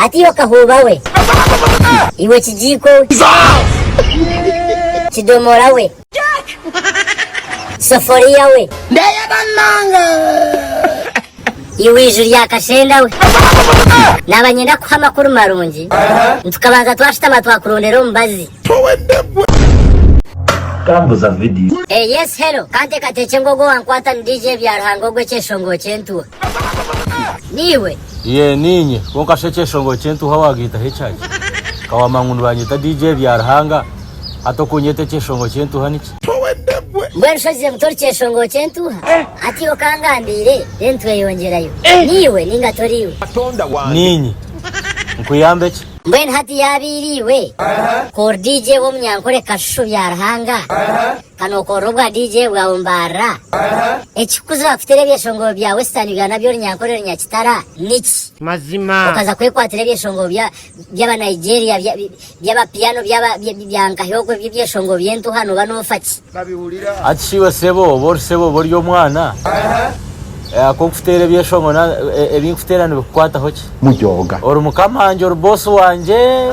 Ati iwe kahuuba we. Iwe kigiiko we. Kidomoora we. Soforiya we. Ndeyeba munonga. Iwe iju rya kashenda we. Naba nyenda kuha amakuru marungi, nitukabanza twashutama twakurondera omubazi. Hey yes hello kanteekateekye ngu ogwo wankwata ni DJ Byaruhanga ogw'ekyeshongoo ky'entuha niiwe? Yee niinye kwonka shi ekyeshongoo ky'entuha waagiitaho ekyaki? Ka waamanya ngu nibanyeta DJ Byaruhanga hati okunyeta ekyeshongoo ky'entuha niki? Mbwenu shi ozire ngu tori kyeshongoo ky'entuha? Hati iwe okangambiire then tweyongyerayo. Niiwe ninga toriiwe? Niinye. Nkuyambe ki? Mbwenu hati yaaba eira iwe ku ori DJ w'omunyankore Kashushu Byaruhanga, ka nookorera obwa DJ bwawe Mbarra, ekikukuza wakuteera ebyeshongoro bya Western Uganda by'orunyankore runyakitara niki? Mazima. Okaza kwekwatira ebyeshongoro bya by'aba Nigeria, bya by'aba piano, by'aba bya bya nkahi ogwo eby'ebyeshongoro by'entuuha nooba noofa ki? babihurira. Hati shi iwe sebo oba ori sebo oba ori omwana? Ku nkuteera ebyeshongo ebi nkuteera nibikukwataho ki? Mujooga. Ori mukama wangye, ori boss wangye.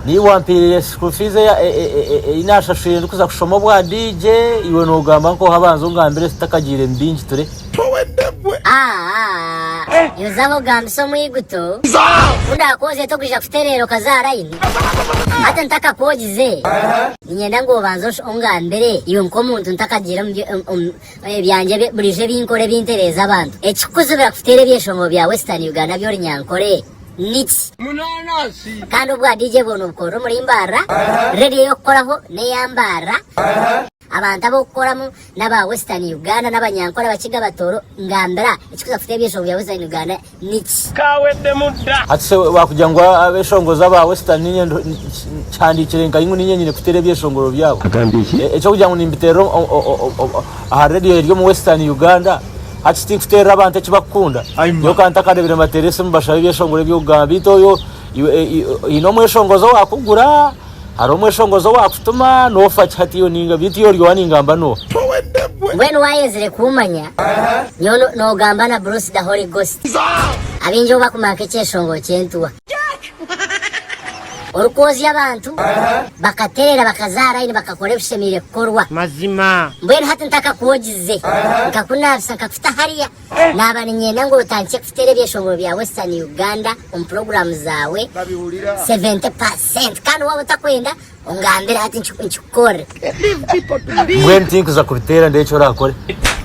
Niiwe wampaire school fees ei naashashwire ndikuza kushoma obwa DJ, iwe noogamba nkooha banza ongambire ezi tutakagiire emibi ngiture. Yozaho ogambise omwiguto ku ndakwoze tokwija kutereera okazaara aine. Hati ntakakwogize. Niinyenda ngu obanze ongambire iwe nk'omuntu ntakagiire omu byangye buriijo ebi nkora ebintereeza abantu. Ekikukuzibira kuteera ebyeshongo bya Western Uganda by'ori nyankore niki? Kandi obwa DJ bwoona obukorere omuri Mbaarra, radio ey'okukoraho n'eya Mbaarra, abantu ab'okukoramu n'aba Western Uganda n'abanyankore, Abakiga, Abatooro, ngambira ekikuza kuteera ebyeshongo bya Western Uganda mix. Hati se wakugira ngu abeshongoza aba western ninye nkihandikire nka ingu ninye nyine kutera ebyeshongoro byabo? Ekyokugira ngu nimbiterera aha radio eri omu western Uganda hati tinkuterera abantu ekibakukunda nyowe ka ntakarebire mbatera esimu bashabe ebyeshongoro ebyokugamba beitu oyo oyine omweshongoza owakugura. Hariho omweshongozi owaakutuma, noofa ki hati iwe ninga beitu iwe ori owa ningamba n'oha? Towe ndegwe. Mbwenu waayenzire kuumanya, nyowe noogamba na Bruce the Holy Ghost. Abaingi obu bakumara nk'ekyeshongoro ky'entuha. Orikwozya abantu, bakatereera, bakazaara aine, bakakora ebishemeire kukorwa. Mazima. Mbwenu hati ntakakwogize, nkakunaabisa, nkakuta hariya, Naaba niinyenda ngu otandikye kuteera ebyeshongoro bya Western Uganda omu puroguraamu zaawe, 70 pa senti, kandi waaba otakwenda ongambire hati nkikukorere. Mbwenu tinkuza kubiteera ndebe eki oraakore.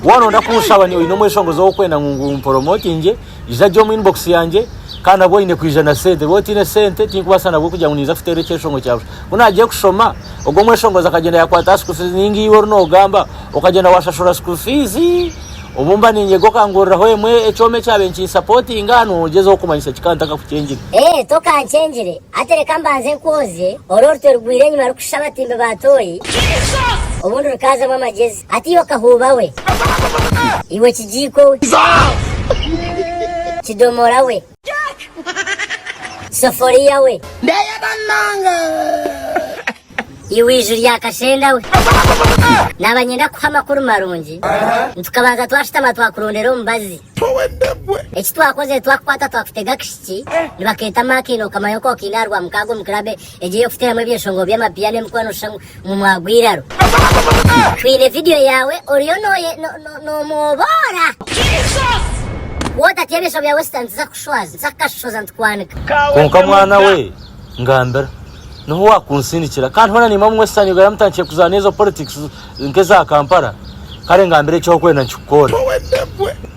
Waaba nooyenda kunshaba oine omweshongozi ou orikwenda ngu mporomotingye, ija gye omu inbox yangye, kandi nabwo oine kwija na sente. Waaba otaine sente tinkubaasa nabwo kugira ngu niinza kuteera ekyeshongoro kya busha. Ku naagire kushoma, ogwo omweshongozi akagyenda yaakwata aha school fees, nainga iwe oru noogamba, okagyenda waashashura school fees, Obu mba niinyega okanguuriraho emwe ekyoma ekyabaire nikinsapotinga, noogyezaho kumanyisa ki ka ntakakukyengire? Ee, tokankyengire. Hati reka mbanze nkwoozye ori orutwe rugwire enyima rukushusha abatimbi ba tooyi, obundi rukaazamu amagyezi. Hati iwe kahuuba we! Iwe kigiiko we! Kidomoora we! Soforiya we. Ndeyena munonga. Iwe iju rya kashenda we. Naba nyenda kuha amakuru marungi, nitukabanza twashutama twakurondera omubazi. Eki twakozire twakukwata twakutega akashiki, nibaketa Mark haine okukamayo nk'okaine aha rwamukaaga omu club Egyo ey'okuteeramu ebyeshongoro by'amabiya n'emikwano nooshusha ngu mwagwa eiraro. Twine vidiyo yaawe oriyo noomwoboora. Wootatya ebyeshongoro bya Western tuza kukushwaza, tuza kukashohoza nitukwanika. Kwonka mwana we, ngambira. Niho waakunsindikira. Kandi hoona niimwe abu Western Uganda mutandikire kuzaana ezo politics nk'eza Kampala, kare ngambira eki orikwenda nikikukorera.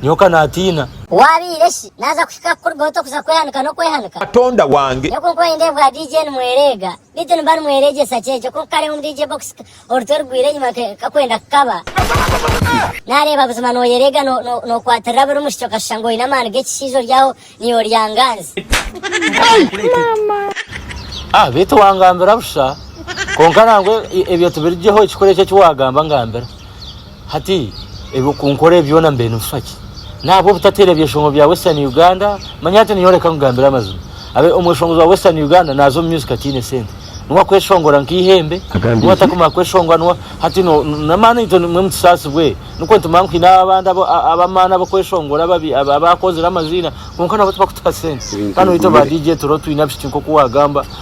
Nyowe ka naatiina. Waabaire shi naaza Kikakukurugaho ota kuza kwehanika n'okwehanika? Katonda wange. Nyowe kunkuba nindeeba obwa DJ nimwereega beitu nimba nimwereegyesa kyenkyo kunkukareeba omu DJ box orutwe rugwire enyima nkakwenda kukaba nareeba buzima noyereega nokwatirira buri mushiki okashusha ngu oine amaani g'ekishaija ori aho niiwe oryanganzi. Ah beitu wangambira busha. Kwonka nangwa ebyo tibirigyeho ekikuru ekyo eki wagamba ngambira. Hati ebi okunkorera byona mbaire nibifa ki? Nahabwa obutateera ebyeshongo bya Western Uganda? Manya hati ninyowe reka nkugambire amazima. Abe omweshongozi wa Western Uganda naaza omu music ataine sente. Niwe akweshongora nk'eihembe, niwe atakumara kweshongora, niwe Hati no, n'amaani itwe nimwe mutusaasibwe. Nikwo nitumanya ngu twine abandi abo, a, ab'amaani ab'okweshongora ababi, ab, abaakozire amaziina, kwonka nabo tibakutuha sente. Ebintu Hanu itwe ba bigumire. DJ Turo twine abishiki nk'oku waagamba.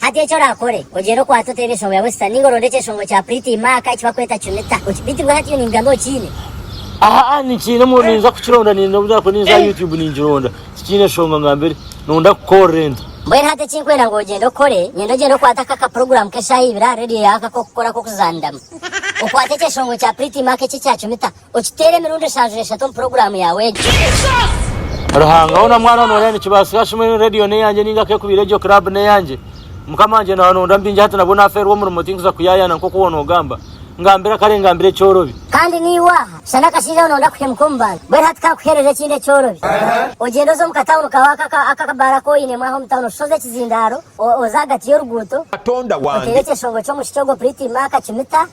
Hati eki orakore, ogyere okwate oteebe enshongo ya wesita ninga oronde ekyeshongo kya priti maaka eki bakweta cunita. Oki, beitu bwe hati iwe nimbigamba okiine? Ahaa ninkiine mu ninza kukironda ninde obu naakuba ninza aha YouTube ningironda. Tikiine nshonga nga mbere. Nonda kukorra ente. Mbwenu hati eki nkwenda ngu ogyende okore, niinyenda ogyende okwate aka ka program k'eshaaha ibiri aha radio yaawe aka k'okukora k'okuzaaniramu. Okwate ekyeshongo kya priti maaka eki ekya cunita. Okiteera emirundi eshanju n'eshatu omu puroguraamu yaawe egyo. Ruhanga hoona mwana noreya nikibaasika shuma enu radio neyangye ninga kekubiire egyo club neyangye mukama wangye nawe nondora mubingi hati nabwo nafeerwa omurimo tinkuza kuyayana nkoku woona ogamba ngambira kare ngambira ekyorobi Kandi naiwe aha shana akashaija aho nonda kuhemuka omu bantu mbwenu hati kankuherere ekindi ekyorobi ogyende oze omu katawuni kawe aka aka aka akabaara aku oinemu aho omu tawuni oshoze ekizindaaro o oze ahagati y'oruguuto Katonda otere wangye. ekyeshongo ky'omushiki ogwo Pretty Mark Kimuta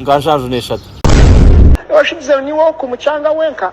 nka nshaju n'eshatu. Nooshubiza ngu niiwe oku mucanga wenka?